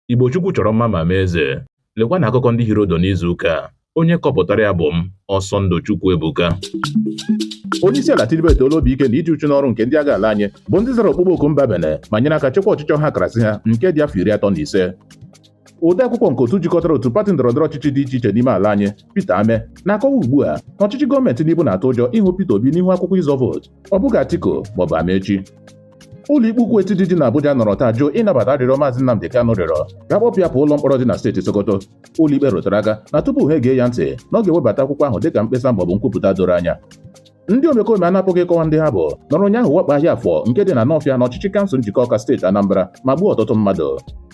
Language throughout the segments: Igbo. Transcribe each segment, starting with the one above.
Igbo Chukwu chọrọ mma ma mee eze. Lekwa na akụkọ ndị hiri ụdụ n'izu ụka a. Onye kọpụtara ya bụ m, Ọsọndụ Chukwu Ebuka. onye isi ala Tinubu etoola obi ike na iji uchu n'ọrụ nke ndị agha ala anyị bụ ndị zara ọkpụkpọ oku mba Benin ma nyere aka chekwa ọchịchị ọha karasị ha nke dị afọ iri atọ na ise ode akwụkwọ nke otu jikọtara otu pati ndọrọndọrọ ọchịchị dị iche iche n'ime ala anyị Peter Ameh na-akọwa ugbu a na ọchịchị gọọmenti Tinubu na-atụ ụjọ ịhụ Peter Obi n'ihu akwụkwọ ịzọ vootu ọ bụghị Atiku maọbụ Amaechi ụlọikpe ukwu etiti dị n'Abuja nọrọ taa jụụ ịnabata arịrịọ maazị Nnamdi Kanu rịọrọ ka a kpọpụ ya pụọ ụlọ mkpọrọ dị na steeti Sokoto ụlọikpe rụtara aka na tupu ha egee ya ntị na ọ ga-ewebata akwụkwọ ahụ dịka mkpesa maọbụ nkwupụta doro anya ndị omekome a na-apụghị ịkọwa ndị ha bụ nọrọ ụnyaahụ wakpo ahịa afọ nke dị na Nọfịa n'ọchịchị kansụl Njikọka steeti Anambra ma gbuo ọtụtụ mmadụ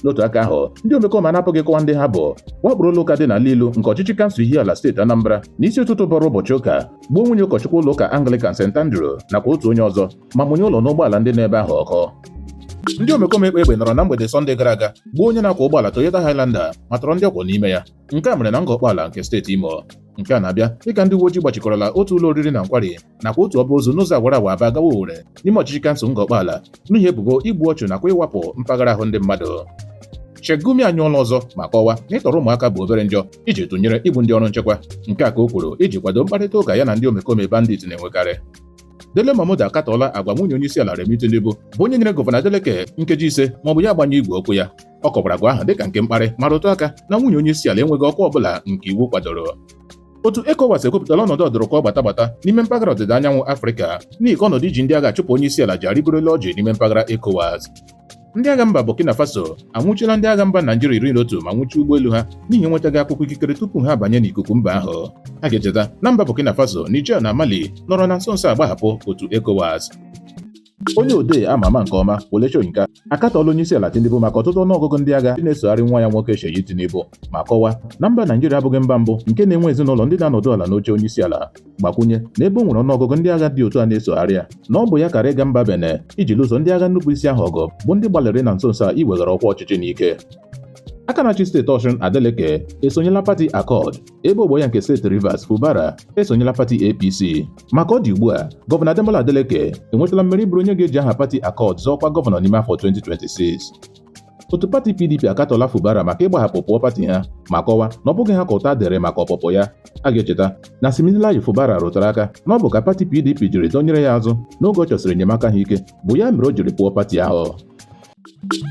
n'otu aka ahụ ndị omekome a na-apụghị ịkọwa ndị ha bụ wakporo ụlọ ụka dị na Lilu nke ọchịchị kansụl Ihiala steeti Anambra n'isi ụtụtụ bọrọ ụbọchị ụka gbuo nwunye ụkọchukwu ụlọ ụka Anglican St Andrew nakwa otu onye ọzọ ma mụnye ụlọ na ụgbọala ndị nọ ebe ahụ ọkụ ndị omekome kpa egbe nọrọ na mgbede sọnde gara aga gbuo onye na-akwọ ụgbọala Toyota Highlander ma tọrọ ndị ọ kwọ n'ime ya nke a mere na Ngor Okpala nke steeti Imo nke a na-abịa dịka ndị uwe ojii gbachikọrọla otu ụlọ oriri na nkwari nakwa otu ọba ozu n'ụzọ awara awa Aba gawa Owerri n'ime ọchịchị kansụl Ngor Okpala n'ihi ebubo igbu ọchụ nakwa ịwapụ mpaghara ahụ ndị mmadụ Sheikh Gumi anyụọla ọzọ ma kọwa na ịtọrọ ụmụaka bụ obere njọ iji tụnyere igbu ndị ọrụ nchekwa nke a ka o kwuru iji kwado mkparịta ụka ya na ndị omekome bandit na-enwekarị Dele Momodu akatọọla agwa nwunye onye isi ala Remi Tinubu bụ onye nyere gọvanọ Adeleke nkeji ise ma ọ bụ ya agbanyụọ igwe okwu ya ọ kọwara agwa ahụ dịka nke mkparị ma rụtụ aka na nwunye onye isi ala enweghị ọkwa ọbụla nke iwu kwadoro otu ECOWAS ekwupụtala ọnọdụ ọdụrụkọ gbata gbata n'ime mpaghara ọdịda anyanwụ Afrịka n'ihi ka ọnọdụ iji ndị agha achụpụ onye isi ala ji arịgorola ọjị n'ime mpaghara ECOWAS Ndị agha mba Burkina Faso anwụchiela ndị agha mba Naijiria iri na otu ma nwụchie ụgbọelu ha n'ihi enwetaghị akwụkwọ ikikere tupu ha abanye n'ikuku mba ahụ. A ga-echeta na mba Burkina Faso, Niger na Mali nọrọ na nso nso a gbahapụ otu ECOWAS. Onye odee a ma ama nke ọma Wole Soyinka akatọọla onyeisiala Tinubu maka ọtụtụ ọnụọgụgụ ndị agha ndị na-esogharị nwa ya nwoke Seyi Tinubu ma kọwaa na mba Naijiria abụghị mba mbụ nke na-enwe ezinụlọ ndị na-anọdụ ala n'oche onyeisiala gbakwunye na ebe o nwere ọnụọgụgụ ndị agha dị otu a na-esogharị ya na ọ bụ ya kaara ịga mba Benin iji lụso ndị agha nnupụisi ahụ ọgụ bụ ndị gbalịrị na nso nso a iweghara ọkwa ọchịchị n'ike aka na-achị steeti Ọshụn Adeleke esonyela pati Accord ebe ogbo ya nke steeti Rivers Fubara esonyela pati APC ma ka ọ dị ugbu a gọvanọ Ademola Adeleke enwetala mmeri bụrụ onye ga-eji aha pati Accord zọọ ọkwa gọvanọ n'ime afọ 2026 otu pati pdp akatọọla fubara maka ịgbahapụ pụọ pati ha ma kọwa na ọ bụghị ha ka ụta dịrị maka ọpụpụ ya a ga-echeta na Siminalayi fubara rụtara aka na ọ bụ ka pati pdp jiri dọnyere ya azụ n'oge ọ chọsịrị enyemaka ha ike bụ ya mere o jiri pụọ pati ahụ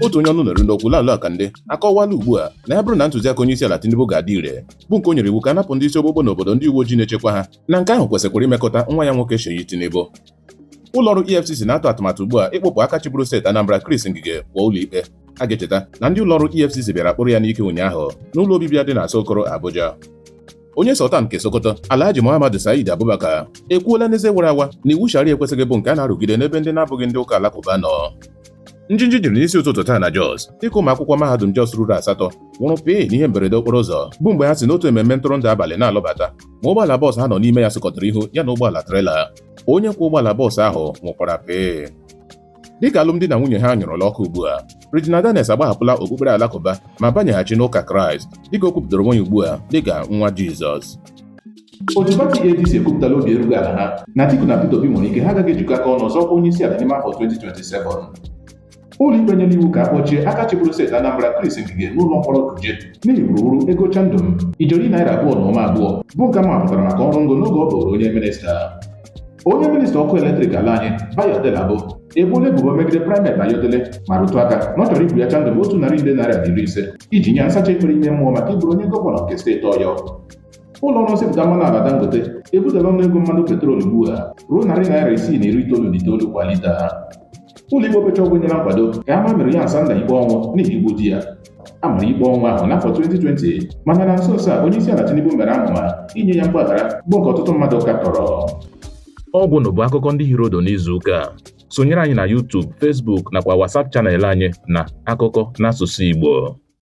otu onye ọnụ na-eru n'okwu Laolu Akande akọwala ugbu a na ya bụrụ na ntụziaka onye isi ala Tinubu ga-adị ire bụ nke o nyere iwu ka a napụ ndị isi ogbogbo n'obodo ndị uwe ojii na-echekwa ha na nke ahụ kwesịkwara imekọta nwa ya nwoke Seyi Tinubu ụlọọrụ EFCC na-atụ atụmatụ ugbu a ịkpụpụ aka chịburu steeti Anambra Chris Ngige pụọ ụlọikpe a ga-echeta na ndị ụlọọrụ EFCC bịara kpụrụ ya n'ike ụnyaahụ n'ụlọ obibi ya dị n'Asokoro Abuja onye Sultan nke Sokoto Alhaji Muhammad Said Abubakar ekwuola n'eze wara awa na iwu Sharia ekwesịghị bụ nke a na-arụgide n'ebe ndị na-abụghị ndị ụka alakụba nọ njinji jiri n'isi ụtụtụ taa na Jos dịka ụmụ akwụkwọ mahadum Jos ruru asatọ nwụrụ pịị n'ihe mberede okporo ụzọ bụ mgbe ha si n'otu ememme ntụrụndụ abalị na-alọbata ma ụgbọala bọọsụ ha nọ n'ime ya sụkọtara ihu ya na ụgbọala trela onye kwọ ụgbọala bọọsụ ahụ nwụkwara pịị dịka alụmdi na nwunye ha nyụrụla ọkụ ugbu a Regina Daniels agbahapụla okpukpere alakụba ma banyeghachi n'ụka Kraịst dịka o kwupụtara onwe ya ugbu a dịka nwa Jizọs otu pati ADC ekwupụtala obi erughị ala ha na Atiku na Peter Obi nwere ike ha agaghị ejikọ aka ọnụ zọọ ọkwa onye isi ala n'ime afọ 2027 ụlọikpe nyere iwu ka a kpọchie aka chịburu steeti Anambra Chris Ngige n'ụlọ mkpọrọ Kuje n'ihi wuruwuru ego chandum ijeri naira abụọ na ụma abụọ bụ nke mapụtara maka ọrụ ngo n'oge ọ bụrụ onye minista onye minista ọkụ eletrik ala anyị Bayo Adelabu ebuola ebubo megide Primate Ayodele ma rụtụ aka na ọ chọrọ igwu ya chandum otu narị nde naira na iri ise iji nye ya nsacha ekpere ime mmụọ maka ịbụrụ onye gọvanọ nke steeti Ọyọ ụlọ ọrụ nsepụta mmanụ ala dangote ebutela ọnụ ego mmanụ petrol ugbu a ruo narị naira isii na iri itoolu na itoolu kwa lita ụlọ ikpe okpecha ọgwụ nyere nkwado ka a maa Maryam Sanda ikpe ọnwụ n'ihi igbu di ya a mara ikpe ọnwụ ahụ n'afọ 2020 mana na nso nso a onye isi ala tinubu mere amụma inye ya mgbaghara bụ nke ọtụtụ mmadụ katọrọ ọ gwụla bụ akụkọ ndị hiri udu n'izu ụka a. sonyere anyị na YouTube, Facebook nakwa WhatsApp channel anyị na akụkọ n'asụsụ Igbo